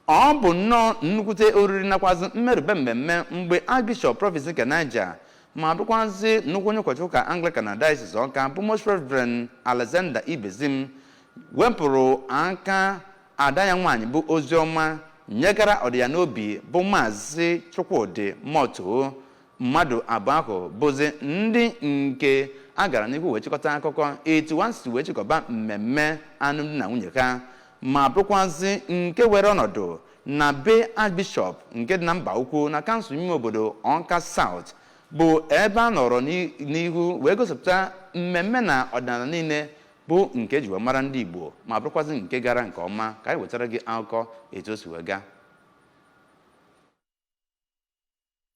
Ọ bụ nnọọ nnukwute oriri nakwazị mmerube mmemme mgbe Archbishop Province nke Niger ma bụkwazị nnukwu onye ụkọchukwu ụka Anglican na Diocese Ọka bụ Most Reverend Alexander Ibezim wepụrụ aka ada ya nwaanyị bụ Oziọma nyegara ọ dị ya n'obi bụ Maazị Chukwudị Mọtoo mmadụ abụọ ahụ bụzi ndị nke a gara n'ihu wee chịkọta akụkọ etu ha si wee chịkọba mmemme anụmdi na nwunye ha ma bụrụkwazị nke were ọnọdụ na be Archbishop nke dị na Mbaukwu na kansụl ime obodo Ọka South bụ ebe a nọrọ n'i- n'ihu wee gosipụta mmemme na ọdịnala niile bụ nke e ji wee mara ndị Igbo ma bụrụkwazị nke gara nke ọma ka anyị wetara gị akụkọ etu o si wee gaa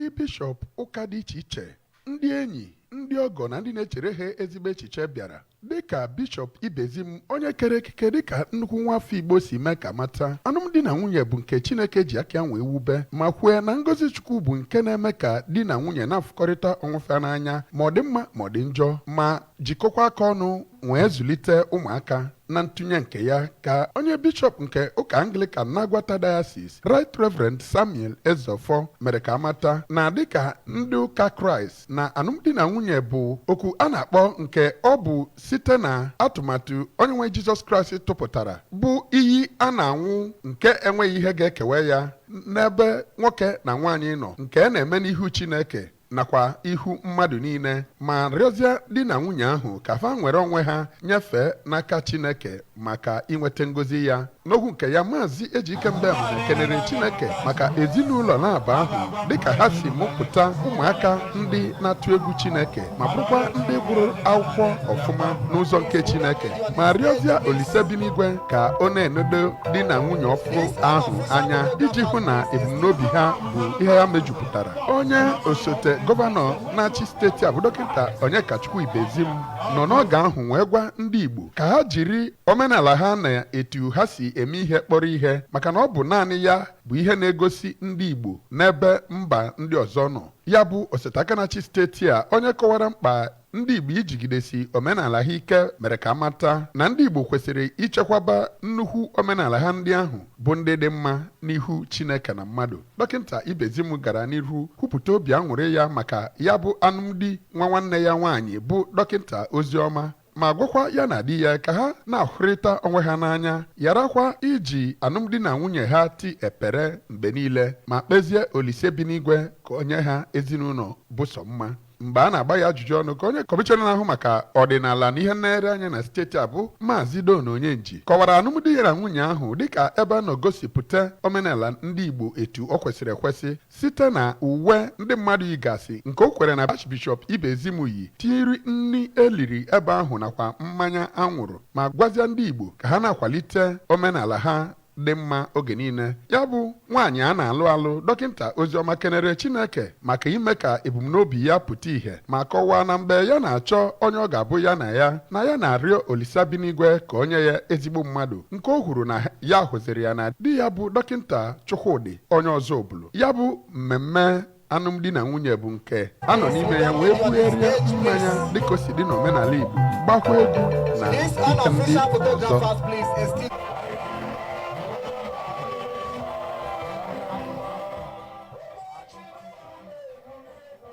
ndị bishọp ụka dị iche iche ndị enyi ndị ọgọ na ndị na-echere ha ezigbo echiche bịara dịka bishọp ibezim onye kere ekike dịka nnukwu nwa afọ igbo si mee ka a mata anụmdi na nwunye bụ nke chineke ji aka nwee wube ma kwue na ngozi chukwu bụ nke na-eme ka di na nwunye na-afụkọrịta onwe fe n'anya ma ọ dị mma ma ọ dị njọ ma jikọkwa aka ọnụ wee zụlite ụmụaka na ntụnye nke ya ka onye bishọp nke ụka anglikan na aguata diocese right reverend samuel ezeọfọ mere ka a mata na dịka ndị ụka kraịst na anụmdi na nwunye bụ oku a na-akpọ nke ọ bụ site na atụmatụ onye nwe anyị jizọs kraịst tụpụtara bụ iyi a na-anwụ nke enweghị ihe ga-ekewe ya n'ebe nwoke na nwaanyị nọ nke na-eme n'ihu chineke nakwa ihu mmadụ niile ma rịọzie di na nwunye ahụ ka fa nwere onwe ha nyefee n'aka Chineke maka inweta ngozi ya n'okwu nke ya maazị Ejike Mbem kenere Chineke maka ezinụlọ naabọ ahụ dịka ha si mụpụta ụmụaka ndị na-atụ egwu Chineke ma bụrụkwa ndị gụrụ akwụkwọ ọfụma n'ụzọ nke Chineke ma rịọzie Olise bi n'igwe ka ọ na-enodo di na nwunye ọfụụ ahụ anya iji hụ na ebumnobi ha bụ ihe ya mejupụtara onye osote gọvanọ na-achị steeti a bụ dọkịta Onyekachukwu Ibezim nọ n'oge ahụ wee gwa ndị Igbo ka ha jiri omenala ha na etu ha si eme ihe kpọrọ ihe maka na ọ bụ naanị ya bụ ihe na-egosi ndị Igbo n'ebe mba ndị ọzọ nọ ya bụ osote aka na-achị steeti a onye kọwara mkpa Ndị Igbo ijigidesi omenala ha ike mere ka a mata na ndị Igbo kwesịrị ichekwaba nnukwu omenala ha ndị ahụ bụ ndị dị mma n'ihu Chineke na mmadụ. Dọkịta Ibezim gara n'ihu kwupụta obi aṅụrị ya maka ya bụ anụmdi nwa nwanne ya nwaanyị bụ dọkịta Oziọma ma gwakwa ya na di ya ka ha na-ahụrịta onwe ha n'anya ya nakwa iji anụmdi na nwunye ha ti ekpere mgbe niile ma kpezie Olise bi n'igwe ka o nye ha ezinụlọ bụ sọ mma mgbe a na-agba ya ajụjụ ọnụ ka onye kọmishọna na-ahụ maka ọdịnala na ihe nlere anya na steeti a bụ maazị Don Onyenji kọwara alụmdi ya na nwunye ahụ dịka ebe a nọ gosipụta omenala ndị Igbo etu o kwesịrị ekwesị site na uwe ndị mmadụ yigasị nke o kwukwara na Archbishop Ibezim yi tinyere nri e liri ebe ahụ nakwa mmanya a ṅụrụ ma gwazia ndị Igbo ka ha na-akwalite omenala ha dị mma oge niile ya bụ nwaanyị a na-alụ alụ dọkịta Oziọma kenere Chineke maka ime ka ebumnobi ya pụta ìhè ma kọwaa na mgbe ya na-achọ onye ọ ga-abụ ya na ya na ya na-arịọ Olisa bi n'igwe ka o nye ya ezigbo mmadụ nke o kwuru na ya hụziri ya na di ya bụ dọkịta Chukwudi onye Ọzụbụlụ ya bụ mmemme alụmdi na nwunye bụ nke a nọ n'ime ya wee bugharịa mmanya dịka o si dị n'omenala Igbo gbakwa egwu na This ite ndị unofficial ọzọ photographers, please, excuse